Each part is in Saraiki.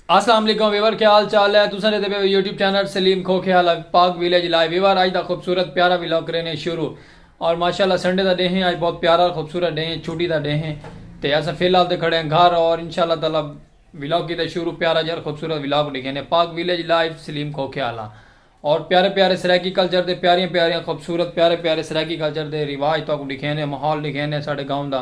اسلام علیکم ویور کیا حال چال ہے تساں ڈیدھے پے ہو یوٹیوب چینل سلیم کھوکھے حال پاک ویلیج لائیو ویور اج دا خوبصورت پیارا ولاگ کرینے شروع اور ماشاءاللہ سنڈے دا ڈیہہ اج بہت پیارا خوبصورت ڈیہہ چھٹی دا ڈیہہ تے اساں فی الحال تے کھڑے ہیں گھر اور انشاءاللہ تعالی ولاگ کیتے شروع پیارا جر خوبصورت ولاگ ڈیکھینے پاک ویلیج لائیو سلیم کھوکھے حال اور پیارے پیارے سرائیکی کلچر دے پیاریاں پیاریاں خوبصورت پیارے پیارے سرائیکی کلچر دے رواج تاکو ڈیکھینے ماحول ڈیکھینے ساڈے گاؤں دا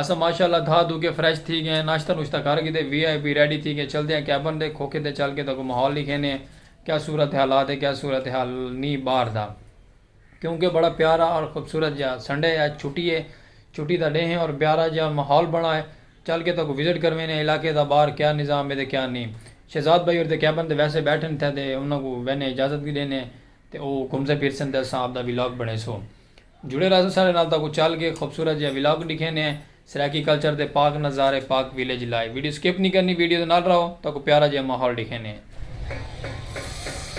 اساں ماشاءاللہ دھا دھو کے فریش تھی گئے ہیں ناشتہ نوشتہ کر گھدے وی آئی پی ریڈی تھی گئے چلدے ہیں کیبن دے کھوکھے تے چل کے تہاکوں ماحول ڈکھیندے ہیں کیا صورت حالات ہے کیا صورت حال نی باہر دا کیونکہ بڑا پیارا اور خوبصورت جا سنڈے ہے چھٹی ہے چھٹی دا ڈینھ ہے اور بیارا جا ماحول بنا ہے چل کے تہاکوں وزٹ کرویندے ہیں علاقے دا باہر کیا نظام ہے تے کیا نی شہزاد بھائی اور تے کیبن تے ویسے بیٹھن تھے تے انہاں کوں ویندے ہیں اجازت وی ڈیندے ہیں تے او گھمسن پھرسن تے اساں آپدا ولاگ بنڑیسوں۔ جڑے راہسوں ساڈے نال تاکوں چل کے خوبصورت جیہا ولاگ ڈکھینے ہیں سرائیکی کلچر دے پاک نظارے Pak village live video skip نی کرنی ویڈیو دے نال راہو تاکوں پیارا جیہا ماحول ڈکھینے ہیں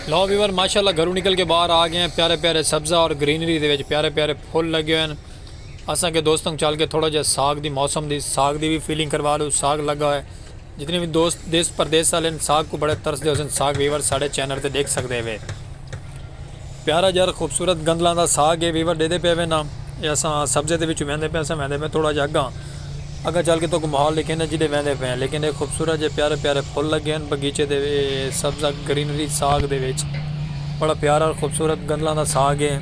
لو ویور ماشاءاللہ گھروں نکل کے باہر آ گئے ہیں پیارے پیارے سبزہ اور گرینری دے وچ پیارے پیارے پھول لگے ہوئے ہیں اساں کے دوستوں چل کے تھوڑا جیہا ساگ دی موسم دی ساگ دی بھی فیلنگ کروا لو ساگ لگا ہوئے جتنے وی دوست دیس پردیس آلن ساگ کو بڑے ترس دے ہوسن ساگ ویور ساڑے چینر تے ڈیکھ سکدے ہوے پیارا جر خوبصورت گندلاں دا ساگ ہے ویور ڈیدے پے ہوے نا اے اساں سبزے دے وچ ویندے پے اساں ویندے پے تھوڑا جا اگاں اگاں چل کے توکو ماحول دکھے نا جیڈے ویندے پے ہیں لیکن اے خوبصورت جے پیارے پیارے پھل لگے ہن بگیچے دے اے سبزہ گرینری ساگ دے وچ بڑا پیارا اور خوبصورت گندلاں دا ساگ ہے۔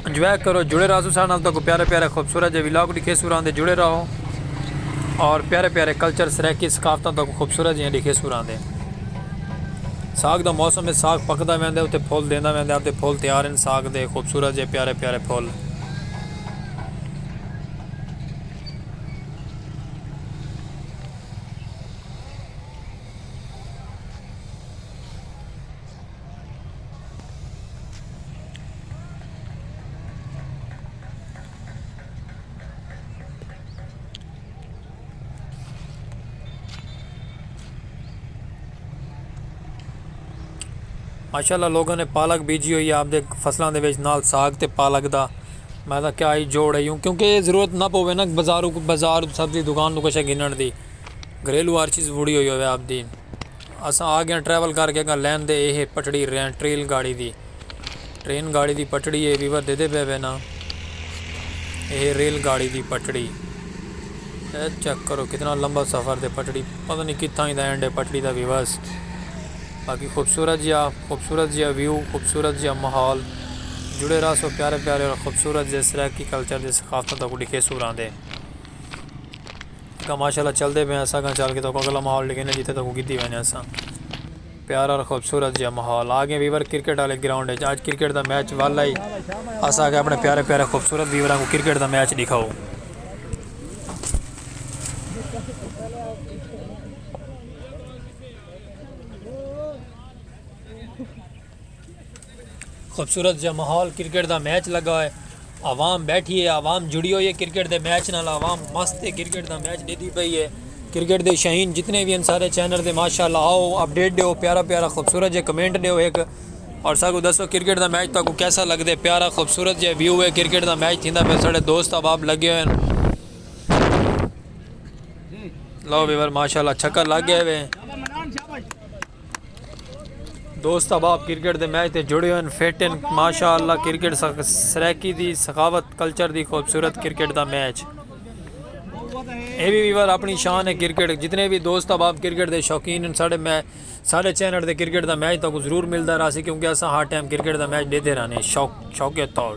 انجوائے کرو جڑے رہسو سارے نال تہاکوں پیارے پیارے خوبصورت جے ولاگ ڈکھیسو راندے جڑے رہو اور پیارے پیارے کلچر سرائیکی ثقافتاں تہاکوں خوبصورت جیاں ڈکھیسو راندے ساگ دا موسم ہے ساگ پکدا ویندے اتے پھول دیندا ویندے اتے پھول تیار ہیں ساگ دے خوبصورت جے پیارے پیارے پھول ماشاءاللہ لوگوں نے پالک بیجی ہوئی ہے آپ دے فصلوں دے وچ نال ساگ تے پالک دا میں دا کیا ہی جوڑ ہوں کیونکہ یہ ضرورت نہ پوے نا بازار بازار سبزی دکان تو کچھ گھنن دی گھریلو ہر چیز بڑی ہوئی ہوئے آپ دی اساں آگیاں ٹریول کر کے اگاں لین دے اے ہے پٹڑی ریاں ٹریل گاڑی دی ٹرین گاڑی دی پٹڑی اے وی ودھے دے پے وے نا اے ہے ریل گاڑی دی پٹڑی اے چیک کرو کتنا لمبا سفر دے پٹڑی پتہ نہیں کتھاں ہی دا اینڈ ہے پٹڑی دا ویوز باقی خوبصورت جیا خوبصورت جیا ویو خوبصورت جیا ماحول جڑے رہا سو پیارے پیارے اور خوبصورت جے سرائیکی کلچر دے ثقافتوں تک ڈکھے سوراں دے تکاں ماشاء اللہ چلدے پئے ہساں گاں چل کے توکوں اگلا ماحول ڈکھینے جتھے توکوں گدھی وینے ہساں پیارا اور خوبصورت جیا ماحول آگے ویور کرکٹ والے گراؤنڈ اچ آج کرکٹ دا میچ ول آئی اسا آگے اپنے پیارے پیارے خوبصورت ویوراں کو کرکٹ دا میچ ڈکھاؤ خوبصورت جا ماحول کرکٹ دا میچ لگا ہوئے عوام بیٹھی ہے عوام جڑی ہوئی ہے کرکٹ دے میچ نال عوام مست ہے کرکٹ دا میچ دیدی پئی ہے کرکٹ دے شہین جتنے بھی ہیں سارے چینل دے ماشاءاللہ آؤ اپڈیٹ دیو پیارا پیارا خوبصورت جے کمنٹ دیو ایک اور ساکو دسو کرکٹ دا میچ تاکو کیسا لگ دے پیارا خوبصورت جے ویو ہے کرکٹ دا میچ تھیندا پہ ساڑے دوست احباب لگے ہوئے ہیں لو بیور ماشاءاللہ چھکا لگ گئے ہوئے ہیں دوست احباب کرکٹ دے میچ تے جڑے ہن فٹ ہن ماشاءاللہ کرکٹ سرائیکی دی ثقافت کلچر دی خوبصورت کرکٹ دا میچ اے وی ویور اپنی شان ہے کرکٹ جتنے بھی دوست احباب کرکٹ دے شوقین ہن ساڈے میں ساڈے چینل دے کرکٹ دا میچ تاکو ضرور ملدا رہسی کیونکہ اساں ہر ٹائم کرکٹ دا میچ دیتے رہنے شوق شوق طور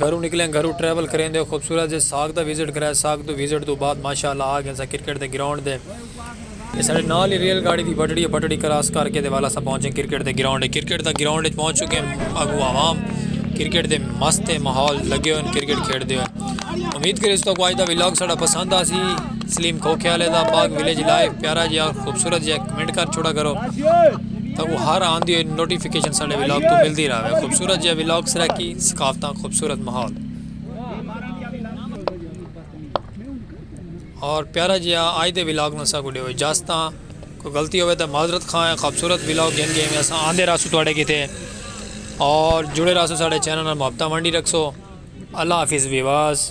گھروں نکلیں گھروں ٹریول کریندے خوبصورت جے ساکھ دا وزٹ کرایا ساکھ دو وزٹ دو بعد ماشاءاللہ آ گئیں سا کرکٹ دے گراؤنڈ دے اے ساڈے نال ہی ریل گاڑی دی بٹڑی ہے بٹڑی کراس کر کے تے والا سا پہنچے کرکٹ دے گراؤنڈ ہے کرکٹ دا گراؤنڈ اچ پہنچ چکے اگوں عوام کرکٹ دے مست ہے ماحول لگے ہوئے کرکٹ کھیڑ دے ہوئے امید کرے اس تو کو آج دا ویلاگ ساڈا پسند آ سی سلیم کھوکھے والے دا باغ ویلیج لائیو پیارا جی خوبصورت جی کمنٹ کر چھوڑا کرو تاں او ہر آندی ہوئی نوٹیفیکیشن ساڈے ولاگ توں ملدی راہوے خوبصورت جیہا ولاگ سرائیکی ثقافتاں خوبصورت ماحول اور پیارا جیہا آج دے ولاگ نو سا کو ڈیو اجازت کوئی غلطی ہوے تے معذرت خواہ ہے خوبصورت ولاگ گھن کے میں اساں آندے راسو تواڈے کیتے اور جڑے راسو ساڈے چینل نال محبتاں ونڈی رکھسو اللہ حافظ ویواز